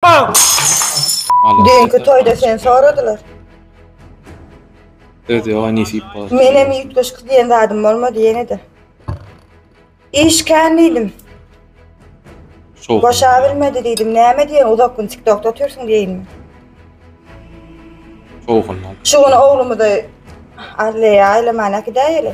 Halas. Düýnki toýda seni soradylar. Söz ýoga nesip bolsun. Menem üýtgeşik diýen zadym bolmady ýene-de. Iş kän diýdim. Şowsuz. Boşa bilmedi diýdim. Näme diýen uzak gün TikTokda otyrsyň diýinmi? Şowhundan. Şu gün oglumyzy Adleýe aýlaman äkidäýeli.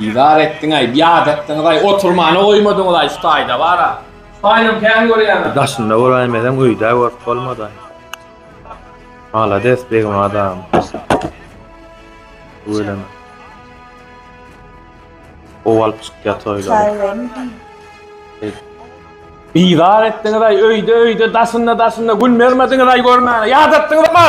Bizar etdiňaý, biat etdiňizaý, oturmana goýmadyňyzaý şu taýda bar-a. Şu taýynam kän görýäňiz. Daşynda bolaýmeseň öýdä görüp bolmadaý. Malades begim adam. Tüweleme. Gowy alyp çykýar toýlary. Bizar etdiňizaý, öýde öýde, daşynda daşynda gün bermediňizaý görmäne. Ýat etdiňizmi?